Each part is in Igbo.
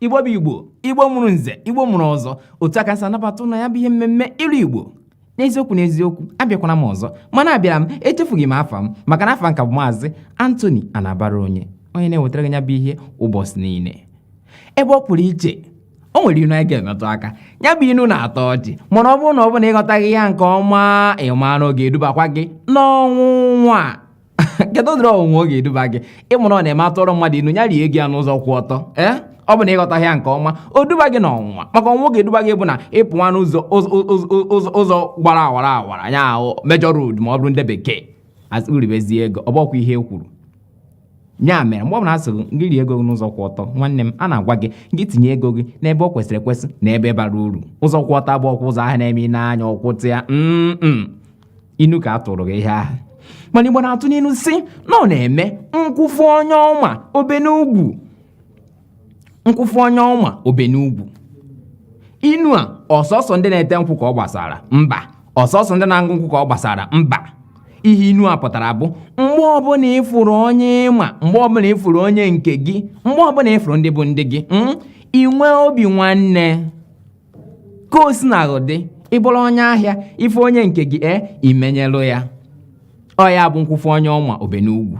igbo bụ igbo igbo mụrụ nze igbo mụrụ ọzọ otu a ka m si anabata unu na ya bụ ihe mmemme ilu igbo n'eziokwu n'eziokwu abịakwana m ọzọ mana abịara m echefughị m afa m maka na afa m ka bụ maazị Anthony Anabaraonye onye na-ewetara gị ya bụ ihe ụbọchị niile ebe ọ pụrụ iche o nwere inu anyị ga-emetụ aka ya bụ inu na-atọ ọchị mana ọ bụrụ na ọ bụ na ịghọtaghị ya nke ọma ịma na ọ ga-edubakwa gị n'ọnwụnwa kedu ụdịrị ọnwụnwa ọ ga-eduba gị ị ma na ọ na-eme a tụọrọ mmadụ inu ya rie ego ya n'ụzọ kwụ ọtọ ee ọ bụ na ịghọtaghị ya nke ọma o duba gị n'ọnwụnwa maka ọnwụnwa ọ ga-eduba gị bụ na ịpụwa n'ụzọ ụzọ gbara awara awara ya bụ major road ma ọ bụrụ ndị bekee i ribezie ego ọ bụkwa ihe e kwuru ya mere mgbe ọ bụla a sịrị gị rie ego gị n'ụzọ kwụ ọtọ nwanne m a na-agwa gị gị tinye ego gị n'ebe ọ kwesịrị ekwesị na ebe bara uru ụzọ kwụ ọtọ abụkwa ụzọ ahụ na-eme ị na-anya ọkwụtụ ya mm inu ka a tụrụ gị ihe ahụ mana igbo na-atụ n'inu sị na ọ na-eme nkwụ fụ onye ọ ma o be n'ugwu nkwụ fụ onye ọ ma o be n'ugwu inu a ọ sọsọ ndị na-ete nkwụ ka ọ gbasara mba ọ sọsọ ndị na-aṅụ nkwụ ka ọ gbasara mba ihe inu a pụtara bụ mgbe ọbụla ị fụrụ onye ị ma mgbe ọbụla ị fụrụ onye nke gị mgbe ọbụla ị fụrụ ndị bụ ndị gị hmm, i nwee obi nwanne ka o sina dị ị bụrụ onye ahịa ị fụ onye nke gị e i menyelụ ya ọ ya bụ nkwụ fụ onye ọ ma o be n'ugwu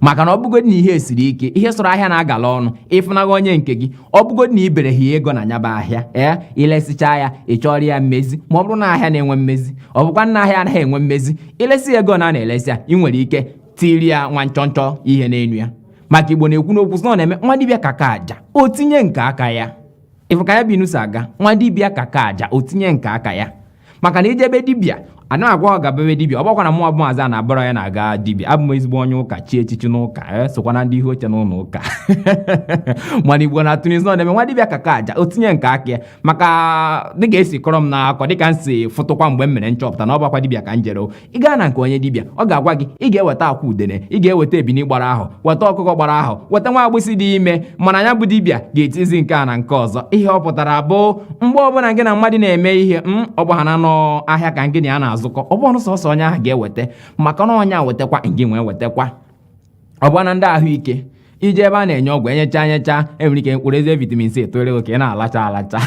maka na ọ bụgodi na ihe esiri ike ihe sọrọ ahịa na-agala ọnụ ịfụnaghị onye nke gị ọ bụgodi na ibere ha ego na nya bụ ahịa ee i lesichaa ya ị chọọrọ ya mmezi ma ọ bụrụ na ahịa na-enwe mmezi ọ bụkwa na ahịa anaghị enwe mmezi i lesi ego a na-elesi ya ị nwere ike tiri ya nwa nchọnchọ ihe n'elu ya maka igbo na-ekwu n'okwu sị na ọ na-eme nwa dibịa ka ka aja o tinye nke aka ya ị fụ ka ya bụ inu si aga nwa dibịa ka ka aja o tinye nke aka ya maka na i je be dibịa adị m kwa agabe be dibịa ọ bụkwa na mụ bụ maazị Anabaraonye na-aga dibịa abụ m ezigbo onye ụka chie echichi n'ụka e sokwa na ndị ihu oche n'ụlọ ụka mana igbo na-atụ n'inu sị na ọ na-eme nwa dibịa ka ka aja o tinye nke aka ya maka dịka e si kọọrọ m n'akọ dịka m si fụtụkwa mgbe m mere nchọpụta na ọ bụkwa dibịa ka m jere ị gaa na nke onye dibịa ọ ga-agwa gị ị ga-eweta akwa udene ị ga-eweta ebini gbara ahọ weta ọkụkọ gbara ahọ weta nwa agbụsị dị ime mana ya bụ dibịa ga-etizi nke a na nke ọzọ ihe ọ pụtara bụ mgbe ọbụla gị na mmadụ na-eme ihe m mm, ọ bụhaana na ọ ahịa ka gị na ya na-azụkọ ọ bụ na ọ sọsọ onye ahụ ga-eweta maka na onye a wetakwa ngị nwa ewetakwa ọ bụkwa na ndị ahụike i je ebe a na-enye ọgwụ enyecha enyecha enwere ike mkpụrụ ise vitamin C etore gị ka ị na-alacha alacha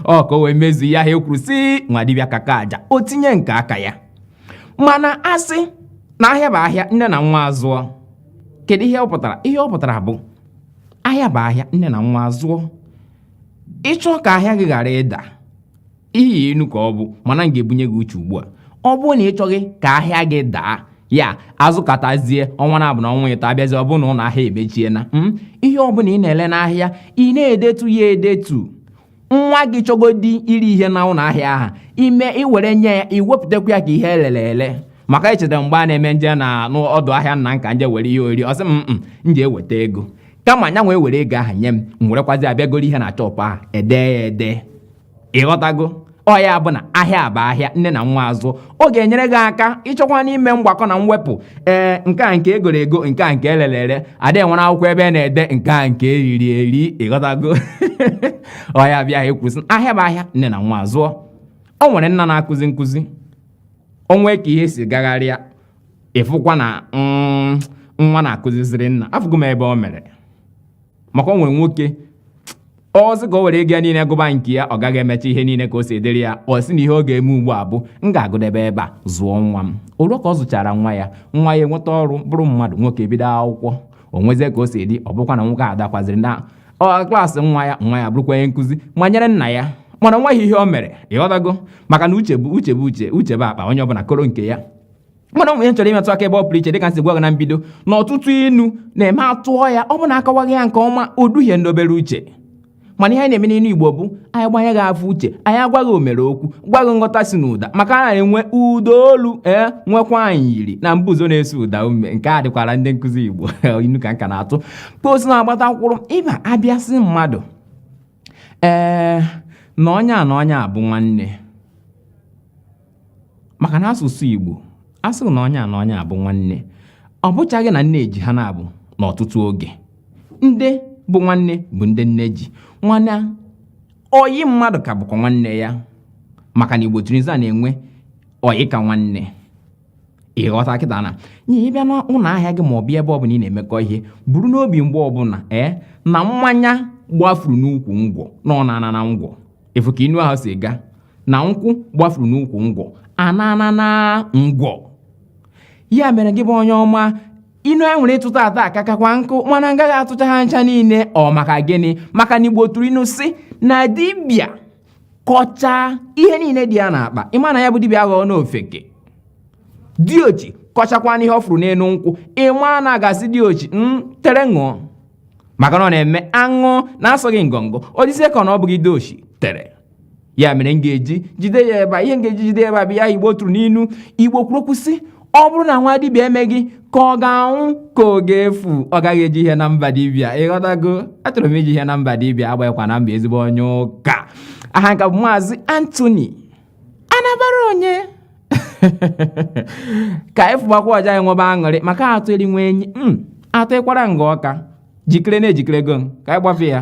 ọ ka o wee mezu ihe ahụ e kwuru sị nwa dibịa kaka aja o tinye nke aka ya mana a sị na ahịa bụ ahịa nne na nwa azụọ kedu ihe ọ pụtara ihe ọ pụtara bụ ahịa bụ ahịa nne na nwa azụọ ị chọ ka ahịa gị ghara ịda ihe inu ka ọ bụ mana m ga-ebunye gị uche ugbu a ọ bụrụ na ị chọghị ka ahịa gị daa ya azụkatazie ọnwa naabọ na ọnwa ịtọ abịazi ọ bụrụ na ụlọ ahịa emechiena hmm? ihe ọbụla ị na-ele n'ahịa ị na-edetu ya edetu nwa gị chọgodi iri ihe na ụlọ ahịa ahụ i mee i were nye ya i wepụtakwa ya ka ihe e lele ele maka echeta mgbe a na-eme m je na n'ọdụ ahịa nna m ka m je were ihe oriri ọ sị m m jee weta ego kama nya nwa ewere ego ahụ nye m m werekwazi bịa goro ihe na shọpụ ahụ e dee ya ede ị ghọtago ọ ya bụ na ahịa bụ ahịa nne na nwa azụọ ọ ga-enyere gị aka ị chọkwanụ ime mgbakọ na mwepụ ee nke a nke e goro ego nke a nke e lere ere ada enwere akwụkwọ ebe a na-ede nke a nke e riri eri ị ghọtago ọ ya bịa ekwu sị ahịa bụ ahịa nne na nwa azụọ o nwere nna na-akụzi nkụzi o nwee ka ihe si gagharịa ị fụkwa na mm, nwa na-akụziziri nna afụgo m ebe o mere maka o nwere nwoke ọ sị ka o were ego ya niile gụba nke ya ọ gaghị emecha ihe niile ka o si edere ya ọ sị na ihe ọ ga-eme ugbu a bụ m ga-agụdebe ebe a zụọ nwa m o ruo ka ọ zụchara nwa ya nwa ya enweta ọrụ bụrụ mmadụ nwoke ebido akwụkwọ o nwezie ka o si dị ọ bụkwa na nwoke adakwaziri na klaasị nwa ya nwa ya bụrụkwa onye nkụzi a nyere nna ya mana o nweghị ihe o mere ị ghọtago maka na uche bụ uche bụ uche uche bụ akpa onye ọbụla koro nke ya mana o nwee ihe m chọrọ imetụ aka ebe ọ pụrụ iche dịka m si gwa gị na mbido na ọtụtụ inu na-eme a tụọ ya ọ bụ na a kọwaghị ya nke ọma o duhie ndị obere uche mana ihe anyị na-eme n'inu igbo bụ anyị gbanye gị afọ uche anyị agwa gị omere okwu gwa gị nghọta si n'ụda maka na e nwee ụda olu e nwekwa anyị yiri na mbuzo na-eso ụda ume nke a dịkwara ndị nkụzi igbo inu ka m ka na-atụ ka o si na-agbata mkpụrụ ị bịa abịa sị mmadụ ee na onye a na onye a bụ nwanne maka na asụsụ Igbo a sịrị na onye a na onye a bụ nwanne ọ bụchaghị na nne ji ha na-abụ n'ọtụtụ oge ndị bụ nwanne bụ ndị nne ji mana oyi mmadụ ka bụkwa nwanne ya maka na Igbo tụrụ inu sị na e nwee oyi ka nwanne ị ghọta kịta na onye bịa n'ụlọ ahịa gị ma ọ bịa ebe ọ bụla ị na-emekọ ihe buru n'obi mgbe ọbụla ee na mmanya gbafuru n'ukwu ngwọ na ọ na-ana na ngwọ ị fụ ka inu ahụ si ga na nkwụ gbafuru n'ukwu ngwọ anana na ngwọ ya mere gị bụ onye ọma inu anyị nwere ịtụ taata akakakwa nkụ mana m gaghị atụcha ha ncha niile ọ maka gịnị maka na igbo tụrụ inu sị na dibịa kọchaa ihe niile dị ya n'akpa ị ma na ya bụ dibịa aghọọna ofeke diochi kọchakwanụ ihe ọ fụrụ n'elu nkwụ ị ma na a ga-asị diochi tere ṅụọ maka na ọ na-eme a ṅụọ na-asọghị ngọngọ ọ dịzie ka na ọ bụghị diochi tere ya mere m ga-eji jide ya ebe a ihe m ga-eji jide ya ebe a bụ ya igbo tụrụ n'inu igbo kwuru okwu sị ọ bụrụ na nwa dibịa emeghị ka ọ ga-anwụ ka ọ ga-efu ọ gaghị eji ihe na mba dibịa ịghọtago achọrọ m iji ihe na mba dibịa agbaghịkwa na mba ezigbo onye ụka aha m ka bụ maazị Anthony Anabaraonye ka anyị fụbakwa ọja anyị nwebe aṅụrị maka atụ eri nwe enyi m atụ ịkwara nga ọka jikere na ejikerego m ka anyị gbafe ya